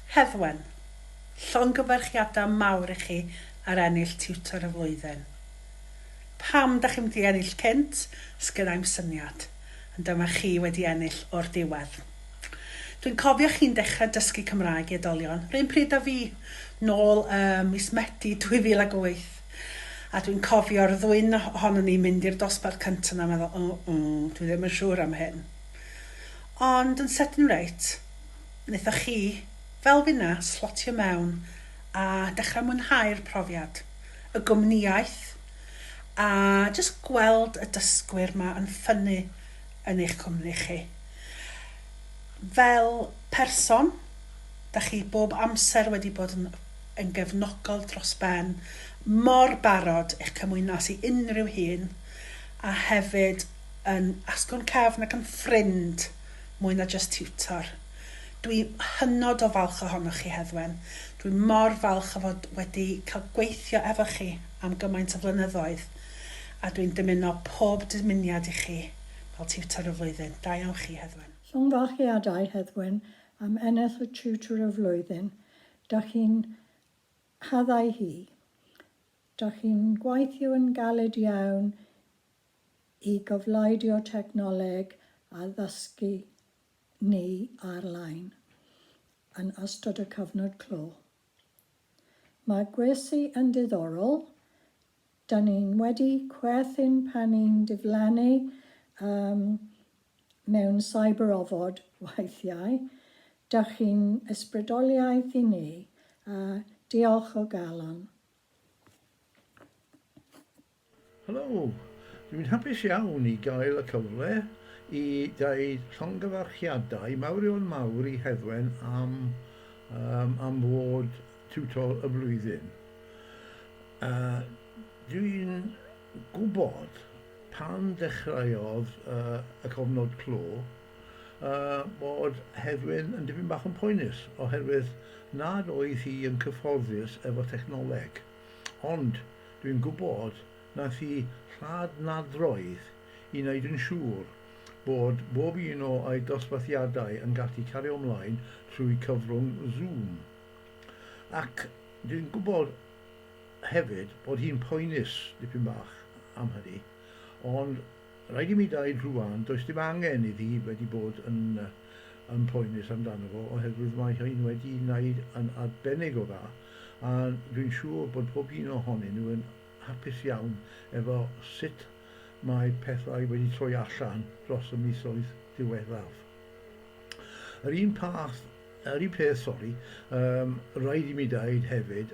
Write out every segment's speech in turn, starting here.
Heddwen. Llongyfarchiadau mawr i chi ar ennill Tiwtor y Flwyddyn. Pam dach chi'm wedi ennill cynt, sgenai'm syniad, ond dyma chi wedi ennill o'r diwedd. Dwi'n cofio chi'n dechrau dysgu Cymraeg i oedolion, 'run pryd â fi, nôl ym mis Medi 2008. A dwi'n cofio'r ddwyn ohonon ni'n mynd i'r dosbarth cynta' 'na a meddwl, oh oh, dwi ddim yn siŵr am hyn. Ond yn sydyn reit, naethoch chi, fel finna, slotio mewn a dechra mwynhau'r profiad, y gwmnïaeth, a jyst gweld y dysgwyr 'ma yn ffynnu yn eich cwmni chi. Fel person, 'dach chi bob amser wedi bod yn yn gefnogol dros ben, mor barod i'ch cymwyno ati unrhyw hyn, a hefyd yn asgwrn cefn ac yn ffrind mwy na jyst tiwtor. Dwi hynod o falch ohonoch chi, Heddwen. Dwi mor falch o fod wedi cael gweithio efo chi am gymaint o flynyddoedd, a dwi'n dymuno pob dymuniad i chi fel Tiwtor y Flwyddyn. Da iawn chi, Heddwen. Llongyfarchiadau, Heddwen, am ennill y Tiwtor y Flwyddyn. Dach chi'n haddau hi. Dach chi'n gweithio yn galed iawn i gofleidio technoleg a ddysgu ni ar-lein yn ystod y cyfnod clo. Mae gwersi yn diddorol, dan ni'n wedi chwerthin pan ni'n diflannu, yym, mewn cyber-ofod weithiau, dach chi'n ysbrydoliaeth i ni, a diolch o galon. Helo! Dwi'n hapus iawn i gael y cyfle i ddeud llongyfarchiadau mawrion mawr i Heddwen am yym am fod Tiwtor y Flwyddyn. Yy dwi'n gwybod pan ddechreuodd y cofnod clo bod Heddwyn yn dipyn bach yn poenus oherwydd nad oedd hi yn cyfforddus efo technoleg. Ond dwi'n gwybod nath hi lladd nadroedd i wneud yn siŵr bod bob un o'i dosbarthiadau yn gallu cario mlaen trwy cyfrwng Zoom. Ac dwi'n gwybod hefyd bod hi'n poenus dipyn bach am hynny, ond rhaid i mi ddeud rŵan, does dim angen iddi wedi bod yn yn poenus amdano fo oherwydd mae hi'n wedi wneud yn arbennig o dda a dwi'n siŵr bod pob un ohonyn nhw yn hapus iawn efo sut mae pethau wedi troi allan dros y misoedd diweddaf. Yr un path, yr un peth, sori, um, rhaid i mi ddeud hefyd,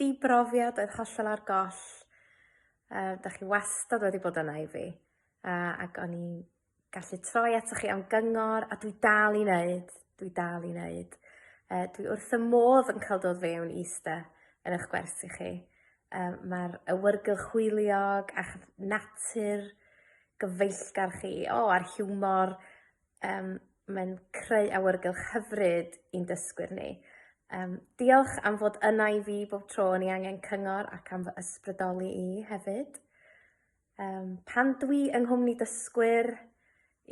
dibrofiad oedd hollol ar goll yy 'dach chi wastad wedi bod yna i fi yy ac o'n i'n gallu troi atoch chi am gyngor a dwi dal i neud dwi dal i neud yy dwi wrth fy modd yn ca'l dod fewn i iste yn 'ych gwersi chi yym ma'r awyrgylch hwyliog a'ch natur gyfeillgar chi o a'r hiwmor Yym mae'n creu awyrgylch hyfryd i'n dysgwyr ni. Yym diolch am fod yna i fi bob tro o'n i angen cyngor ac am fy ysbrydoli i hefyd. Yym pan dwi yng nghwmni dysgwyr,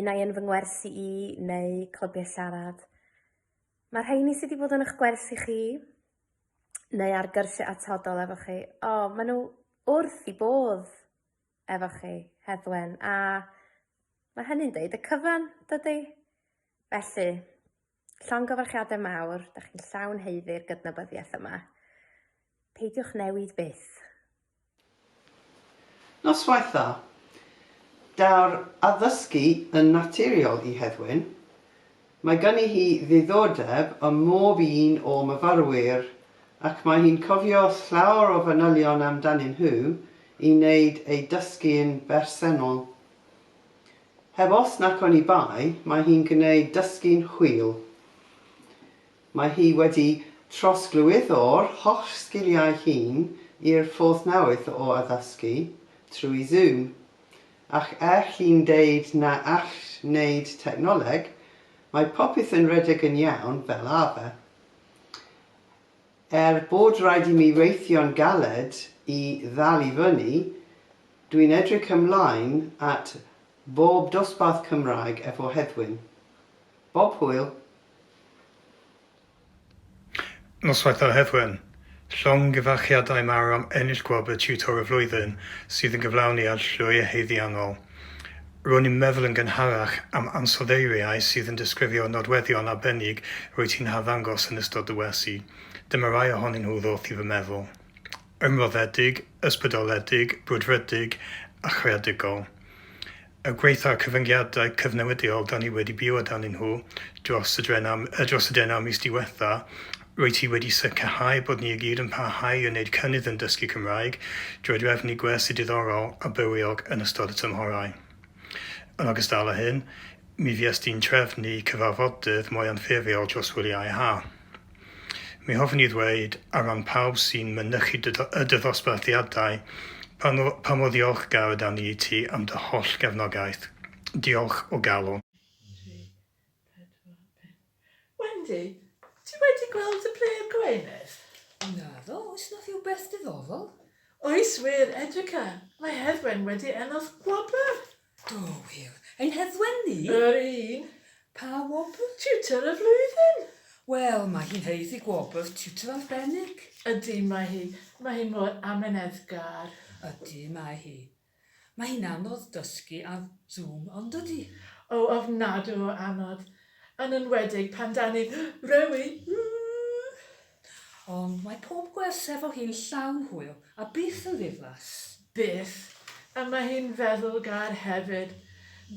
unai yn fy ngwersi i neu clybiau siarad, mae'r rheini sydd wedi bod yn eich gwersi chi neu ar gyrsiau atodol efo chi, o, maen nhw wrth i bodd. efo chi, Heddwen, a mae hynny'n deud y cyfan, dydy? Felly, llongyfarchiadau mawr, da chi'n llawn heiddi'r gydnabyddiaeth yma. Peidiwch newid byth. Noswaith dda. Daw'r addysgu yn naturiol i Heddwen. Mae ganddi hi ddiddordeb ym mhob un o myfyrwyr ac mae hi'n cofio llawer o fanylion amdanyn nhw i wneud ei dysgu'n bersennol. Heb os nac oni bai, mae hi'n gwneud dysgu'n hwyl. Mae hi wedi trosglwyddo'r holl sgiliau hyn i'r ffordd newydd o addysgu, trwy Zoom. Ac er chi'n deud na all wneud technoleg, mae popeth yn rhedeg yn iawn fel arfer. Er bod rhaid i mi weithio'n galed i ddal i fyny, dwi'n edrych ymlaen at bob dosbarth Cymraeg efo Heddwyn. Bob hwyl! Noswaith dda Heddwen! Llongyfarchiadau mawr am ennill gwobr Tiwtor y Flwyddyn sydd yn gyflawni ar llwyr haeddiannol. Ro'n i'n meddwl yn gynharach am ansoddeiriau sydd yn disgrifio nodweddion arbennig rwyt ti'n harddangos yn ystod dy wersi. Dyma rai ohonyn nhw ddoth i fy meddwl. ymroddedig, ysbrydoledig, brwdfrydig a chreadigol. Y gwaith a'r cyfyngiadau cyfnewidiol da ni wedi byw âdanyn nhw dros y drenau, dros y drenau mis diwetha, rwyt ti wedi sicrhau bod ni i gyd yn parhau i wneud cynnydd yn dysgu Cymraeg drwy drefnu gwersi diddorol a bywiog yn ystod y tymhorau. Yn ogystal â hyn, mi fuest ti'n trefnu cyfarfodydd mwy anffurfiol dros wyliau ha. Mi hoffwn i ddweud, ar ran pawb sy'n mynychu dy, y dy ddosbarthiadau, pa, no, pa mor ddiolchgar ydan ni i ti am dy holl gefnogaeth. Diolch o galon. Wendy, ti wedi gweld y plê yn Gwynedd? Naddo, oes na rhywbeth diddorol? Oes wir, Edrica, mae Herwen wedi ennodd gwobr! Do, wir. Ein heddwen ni? Yr un. Pa wobr? Tiwtor y flwyddyn! Wel, mae hi'n haeddu gwobr tiwtor arbennig. Ydy, mae hi. Mae hi mor amyneddgar. Ydy, mae hi. Mae hi'n anodd dysgu ar Zoom, yndydi? O, ofnadw o anodd. Yn enwedig pan 'da ni'n rhewi. Ww! Ond mae pob gwers efo hi'n llawn hwyl a byth yn ddiflas. Byth. A mae hi'n feddwlgar hefyd.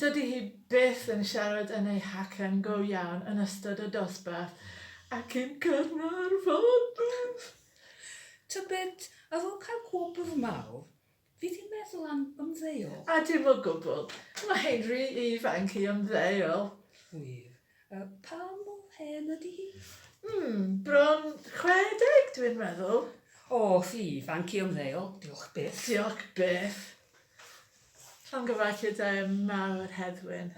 Dydy hi byth yn siarad yn ei hacen go iawn yn ystod y dosbarth ac yn Caernarfon! Tybed, ar ôl cael gwobr mawr, Fi di meddwl am ymddeol. A dim o gwbl. Mae hi'n rhy ifanc i ymddeol. Wir. Yy, pa mor hen ydy hi? Mm, bron 60 dwi'n meddwl. O, rhy ifanc i ymddeol, diolch byth. Diolch byth. Llongyfarchiad da iawn mawr, Heddwyn.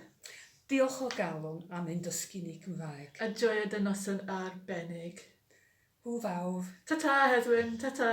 Diolch o galon am ein dysgu ni Cymraeg. A joio dy noson arbennig. Hwyl fawr. Ta-ta, Heddwyn, ta-ta.